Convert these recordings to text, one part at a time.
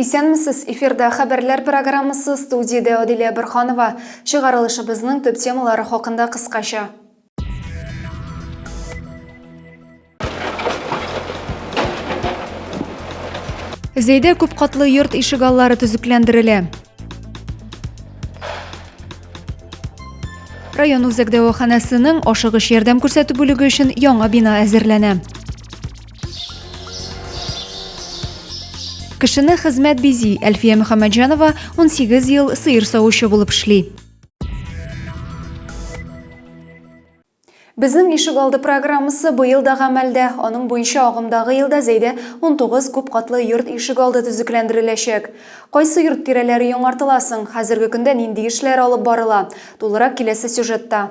Исәнмесез, эфирда Хәбәрләр программасы, студиядә Адилә Борханова. Чыгарылышыбызның төп темалары хакында кыскача. Зәйдә күпкатлы йорт ишегаллары төзекләндерелә. Район үзәк дәваханәсенең ашыгыч ярдәм күрсәтү бүлеге өчен яңа бина әзерләнә. Кешене хезмәт бизи. Әлфия Мөхәммәтҗанова 18 ел сыер савучы булып эшли. Безнең ишек алды программасы быел да гамәлдә. Аның буенча агымдагы елда Зәйдә 19 күп катлы йорт ишек алды төзекләндереләчәк. Кайсы йорт тирәләре яңартыла соң, хәзерге көндә нинди эшләр алып барыла? Тулырак киләсе сюжетта.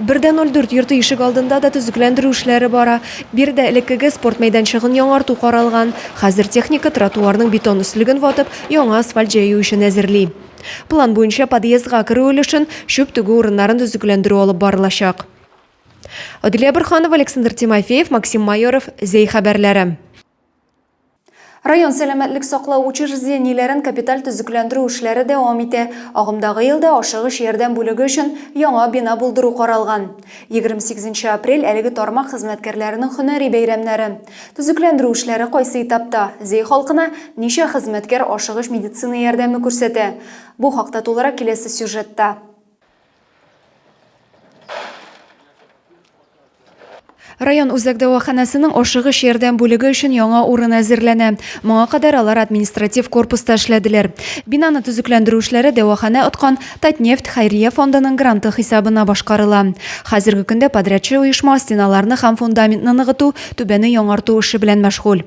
Бер дә ноль дүрт йорты ишегалдында да төзекләндерү эшләре бара. Биредә элеккеге спорт мәйданчыгын яңарту каралган. Хәзер техника тротуарның бетон өслеген ватып, яңа асфальт җәю өчен әзерли. План буенча подъездга керү өлешен, чүп түгү урыннарын төзекләндерү алып барылачак. Аделя Борһанова, Александр Тимофеев, Максим Майоров, Зәй хәбәрләре. Район сәламәтлек саклау учреждениеләрен капиталь төзекләндерү эшләре дәвам итә. Агымдагы елда ашыгыч ярдәм бүлеге өчен яңа бина булдыру каралган. 28 нче апрель, әлеге тармак хезмәткәрләренең һөнәри бәйрәмнәре. Төзекләндерү эшләре кайсы этапта? Зәй халкына ничә хезмәткәр ашыгыч медицина ярдәме күрсәтә? Бу хакта тулырак киләсе сюжетта. Район үзәк дәваханәсенең ашыгыч ярдәм бүлеге өчен яңа урын әзерләнә. Моңа кадәр алар административ корпуста эшләделәр. Бинаны төзекләндерү эшләре дәваханә откан Татнефть хәйрия фондының гранты хисабына башкарыла. Хәзерге көндә подрядчы оешма стеналарны һәм фундаментны ныгыту, түбәне яңарту эше белән мәшгуль.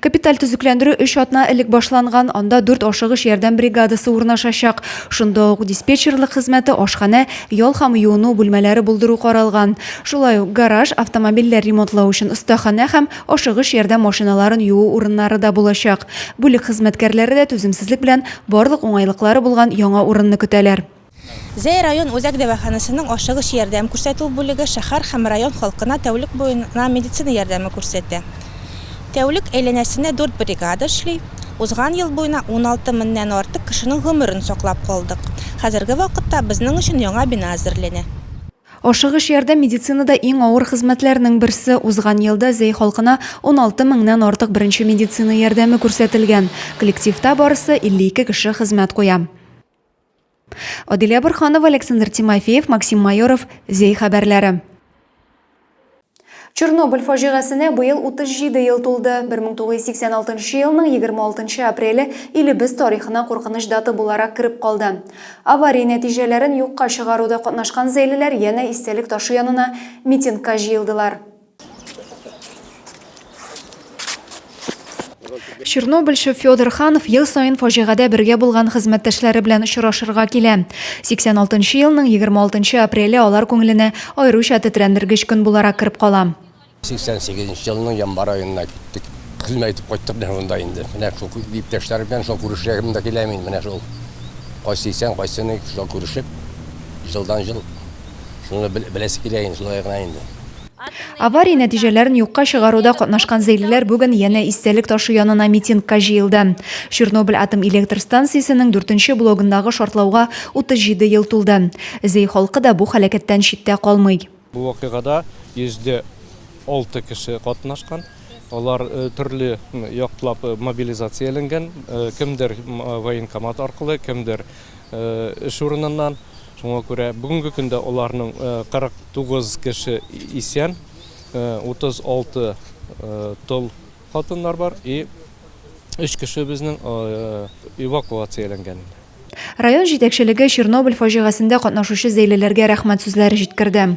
Капиталь төзекләндерү өч атна элек башланган, анда дүрт ашыгыч ярдәм бригадасы урнашачак. Шунда ук диспетчерлык хезмәте, ашханә, ял һәм юыну бүлмәләре булдыру каралган. Шулай ук гараж, автомобильләр ремонтлау өчен остаханә һәм ашыгыч ярдәм машиналарын юу урыннары да булачак. Бүлек хезмәткәрләре дә түземсезлек белән барлык уңайлыклары булган яңа урынны көтәләр. Зәй район үзәк дәваханәсенең ашыгыч ярдәм күрсәтү бүлеге шәһәр һәм район халкына тәүлек буена медицина ярдәме күрсәтә. Тәүлек әйләнәсенә дүрт бригада эшли. Узган ел буена уналты меңнән артык кешенең гомерен саклап калдык. Хәзерге вакытта безнең өчен яңа бина әзерләнә. Ашыгыч ярдәм медицинада иң авыр хезмәтләрнең берсе. Узган елда Зәй халкына уналты меңнән артык беренче медицина ярдәме күрсәтелгән. Коллективта барысы 52 кеше хезмәт куя. Адилә Борханова, Александр Тимофеев, Максим Майоров, Зей хәбәрләре. Чернобыль фаҗигасенә быел 37 ел тулды. 1986 елның 26 апреле илебез тарихына куркыныч дата буларак кереп калды. Авария нәтиҗәләрен юкка чыгаруда катнашкан зәйлеләр янә истәлек ташы янына митингка җыелдылар. Чернобыльчы Федор Ханов ел саен фаҗигадә бергә булган хезмәттәшләре белән очрашырга килә. 86 елның 26 апреле алар күңеленә аеруча тетрәндергеч көн буларак кереп кала. 88 елның январ аенда киттек. Хезмәт итеп кайттык менә шунда инде. Менә шул иптәшләр белән шул күрешәгем дә килә мин. Менә шул кайсы исән, кайсы ни, шул күрешеп, җылдан-җыл Шуны беләсе килә инде, шулай гына инде. Авария нәтиҗәләрен юкка чыгаруда катнашкан зәйлеләр бүген янә истәлек ташы янына митингка җыелды. Чернобыль атом электр станциясенең дүртенче блогындагы шартлауга 37 ел тулды. Зәй халкы да бу һәлакәттән читтә калмый. Бу вакыйгада 106 кеше катнашкан. Алар төрле яклап мобилизацияләнгән, кемдер военкомат аркылы, кемдер эш урыныннан. Шуңа күрә бүгенге көндә аларның 49 кеше исән, 36 тол хатыннар бар и өч кеше безнең эвакуацияләнгән. Район җитәкчелеге Чернобыль фаҗигасендә катнашучы зәйлеләргә рәхмәт сүзләре җиткерде.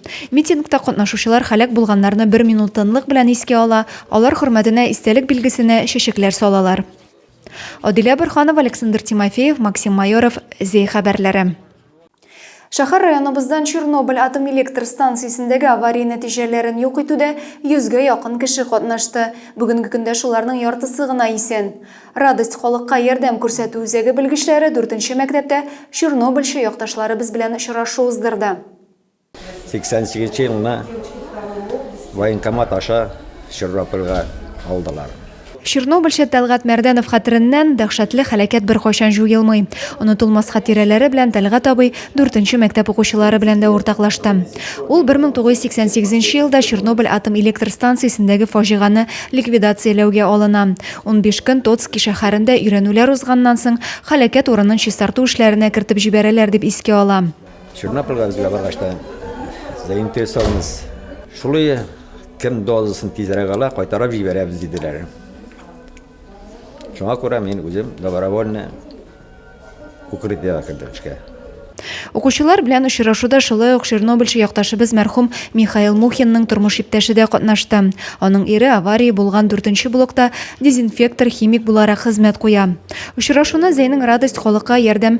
Митингта катнашучылар һәлак булганнарны бер минут тынлык белән искә ала, алар хөрмәтенә истәлек билгесенә чәчәкләр салалар. Адилә Борһанова, Александр Тимофеев, Максим Майоров, ЗЕ хәбәрләре. Шәһәр районыбыздан Чернобыль атом электр станциясендәге авария нәтиҗәләрен юк итүдә 100 гә якын кеше катнашты. Бүгенге көндә шуларның яртысы гына исән. Радость халыкка ярдәм күрсәтү үзәге белгечләре дүртенче мәктәптә Чернобыльчы якташларыбыз белән очрашу уздырды. 88 нче елны военкомат аша Чернобыльга алдылар. Чернобыльчы Тәлгат Мәрдәнов хәтереннән дәһшәтле хәләкәт беркайчан җуелмый. Онытылмас хатирәләре белән Тәлгат абый 4 нче мәктәп укучылары белән дә уртаклашты. Ул 1988 нче елда Чернобыль атом электр станциясендәге фаҗиганы ликвидацияләүгә алына. Унбиш көн Тоцки шәһәрендә өйрәнүләр узганнан соң, хәләкәт урынын чистарту эшләренә кертеп җибәрәләр дип искә ала. Чернобыльга безгә баргач та заинтересованность шулай кем дозасын тизрәк ала, кайтарып җибәрәбез диделәр. Шуңа күрә мин үзем добровольно укрытиягә кердем эшкә. Укучылар белән очрашуда шулай ук чернобыльчы якташыбыз мәрхүм Михаил Мухинның тормыш иптәше дә катнашты. Аның ире авария булган дүртенче блокта дезинфектор-химик буларак хезмәт куя. Очрашуны Зәйнең радость халыкка ярдәм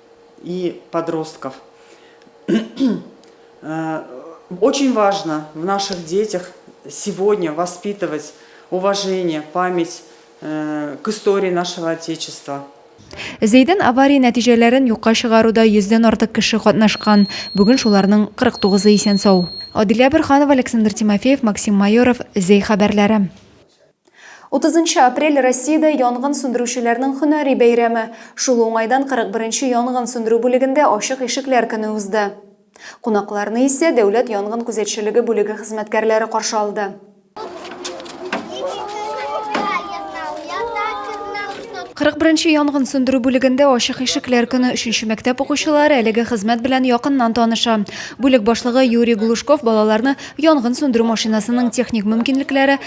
и подростков. Э, очень важно в наших детях сегодня воспитывать уважение, память э, к истории нашего Отечества. Зәйдән авария нәтиҗәләрен юкка чыгаруда 100 артык кеше катнашкан. Бүген шуларның 49-ы исән сау. Адилә Бирханова, Александр Тимофеев, Максим Майоров, Зәй хәбәрләре. Утызынчы апрель, Россиядә янгын сүндерүчеләрнең һөнәри бәйрәме. Шул уңайдан 41 нче янгын сүндерү бүлегендә ачык ишекләр көне узды. Кунакларны исә Дәүләт янгын күзәтчелеге бүлеге хезмәткәрләре каршы алды. Кырык беренче янгын сүндерү бүлегендә ачык ишекләр көне өченче мәктәп укучылары әлеге хезмәт белән якыннан таныша. Бүлек башлыгы Юрий Глушков балаларны янгын сүндерү машинасының техник мөмкинлекләре,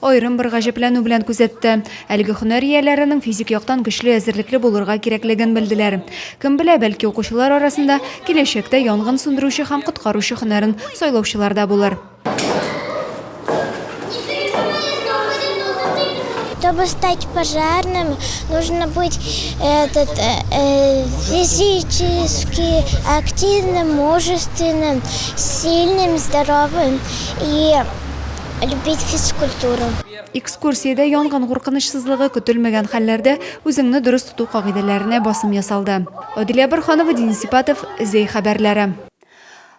Аерым бер гаҗәпләнү белән күзәтте. Әлеге һөнәр ияләренең физик яктан көчле, әзерлекле булырга кирәклеген белделәр. Кем белә, бәлки укучылар арасында киләчәктә янгын сүндерүче һәм коткаручы һөнәрен сайлаучылар да булыр. Чтобы стать пожарным, нужно быть э, этот, э, э, физически активным, мужественным, сильным, здоровым и любить физкультуру. Экскурсиядә янгын куркынычсызлыгы, көтелмәгән хәлләрдә үзеңне дөрес тоту кагыйдәләренә басым ясалды. Аделя Борһанова, Денис Сипатов, Зәй хәбәрләре.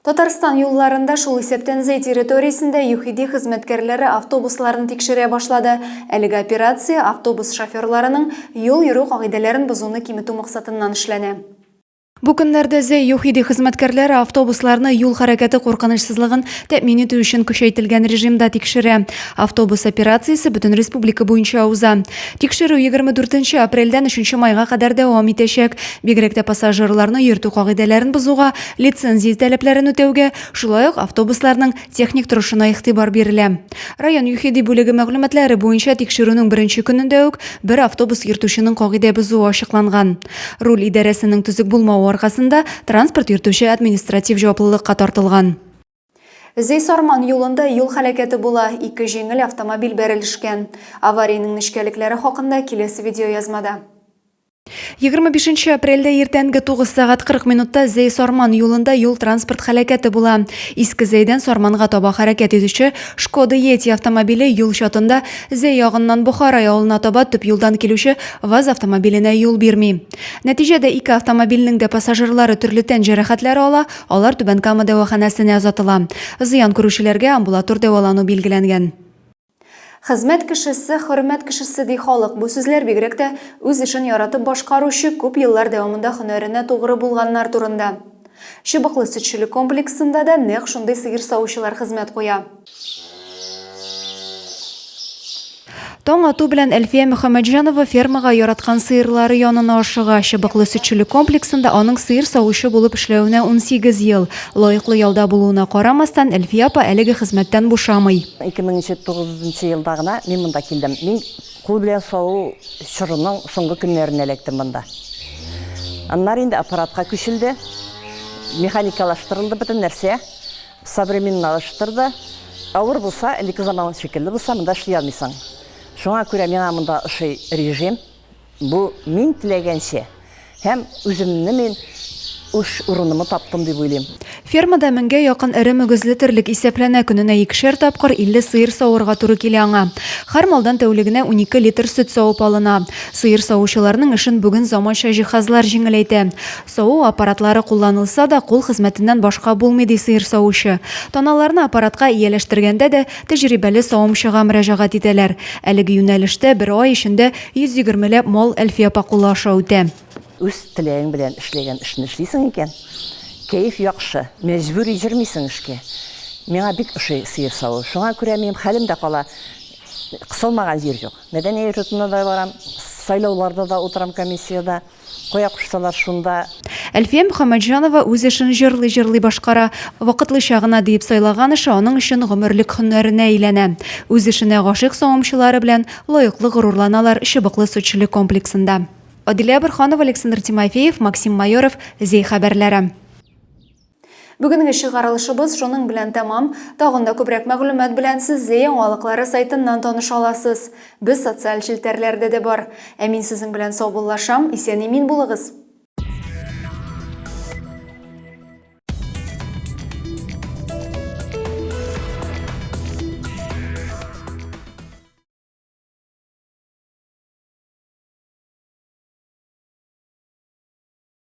Татарстан юлларында, шул исәптән Зәй территориясендә ЮХИДИ хезмәткәрләре автобусларны тикшерә башлады. Әлеге операция автобус шоферларының юл йөрү кагыйдәләрен бозуны киметү максатыннан эшләнә. Бу көннәрдә Зәй ЮХИДИ хезмәткәрләре автобусларны юл хәрәкәте куркынычсызлыгын тәэмин итү өчен көчәйтелгән режимда тикшерә. Автобус операциясе бөтен республика буенча уза. Тикшерү 24 апрельдән 3 майга кадәр дәвам итәчәк. Бигрәк тә пассажирларны йөртү кагыйдәләрен бозуга, лицензия таләпләрен үтәүгә, шулай ук автобусларның техник торышына игътибар бирелә. Район ЮХИДИ бүлеге мәгълүматлары буенча, тикшерүнең беренче көнендә үк бер автобус йөртүченең кагыйдә бозуы ачыкланган. Руль идарәсенең төзек булмавы аркасында, транспорт йөртүче административ җаваплылыкка тартылган. Зей-Сарман юлында юл һәлакәте була, ике җиңел автомобиль бәрелешкән. Авариянең нечкәлекләре хакында киләсе видеоязмада. 25 нче апрельдә иртәнге 9 сәгать 40 минутта Зей-Сарман юлында юл-транспорт һәлакәте була. Иске Зейдән Сарманга таба хәрәкәт итүче Шкода Йети автомобиле юл чатында Зәй ягыннан Бохара явылына таба төп юлдан килүче ВАЗ автомобиленә юл бирми. Нәтиҗәдә ике автомобильнең дә пассажирлары төрле тән җәрәхәтләре ала, алар Түбән Кама дәваханәсенә озатыла. Зыян күрүчеләргә амбулатор дәвалану билгеләнгән. Хезмәт кешесе, хөрмәт кешесе, ди халык. Бу сүзләр бигрәк тә үз эшен яратып башкаручы, күп еллар дәвамында һөнәренә тугры булганнар турында. Чыбыклы сөтчелек комплексында да нәкъ шундый сыер савучылар хезмәт куя. Таң ату белән Әлфия Мөхәммәтҗанова фермага яраткан сыерлары янына ашыга. Чыбыклы сөтчелек комплексында аның сыер савучы булып эшләвенә 18 ел. Лаеклы ялда булуына карамастан, Әлфия апа әлеге хезмәттән бушамый. 2009 елда гына мин монда килдем. Мин кул белән саву чорының соңгы көннәрендә эләктем монда. Аннары инде аппаратка күчелде, механикалаштырылды бөтен нәрсә. Современналаштыр да. Авыр булса, элекке заман шикелле булса, монда эшли алмыйсың. Шуңа күрә миңа монда ошый режим. Бу мин теләгәнчә һәм үземне мин үш урынымы таптым дип уйлыйм. Фермада меңгә якын эре мөгезле терлек исәпләнә, көненә икешәр тапкыр 50 сыер савырга туры килә аңа. Һәр малдан тәүлегенә унике литр сөт савып алына. Сыер савучыларның эшен бүген заманча җиһазлар җиңеләйтә. Саву аппаратлары кулланылса да, кул хезмәтеннән башка булмый, ди сыер савучы. Таналарны аппаратка ияләштергәндә дә тәҗрибәле савымчыга мөрәҗәгать итәләр. Әлеге юнәлештә бер ай эчендә 120 ләп мал Әлфия апа кулы аша үтә. Үз теләгең белән эшләгән эшне эшлисең икән, кәеф яхшы, мәҗбүри йөрмисең эшкә. Миңа бик ошый сыер саву. Шуңа күрә минем хәлем дә кала, кысылмаган җир юк. Мәдәни йортына да барам, сайлауларда да утырам комиссиядә. Кая кушсалар, шунда. Әлфия Мөхәммәтҗанова үз эшен җырлый-җырлый башкара. Вакытлыча гына диеп сайлаган эше аның өчен гомерлек һөнәренә әйләнә. Үз эшенә гашыйк савымчылары белән лаеклы горурланалар Чыбыклы сөтчелек комплексында. Адилә Борһанова, Александр Тимофеев, Максим Майоров, Зәй хәбәрләре. Бүгенге чыгарылышыбыз шуның белән тәмам. Тагын да күбрәк мәгълүмат белән сез Зәй яңалыклары сайтыннан таныша аласыз. Без социаль челтәрләрдә дә бар. Ә мин сезнең белән саубуллашам, исән-имин булыгыз!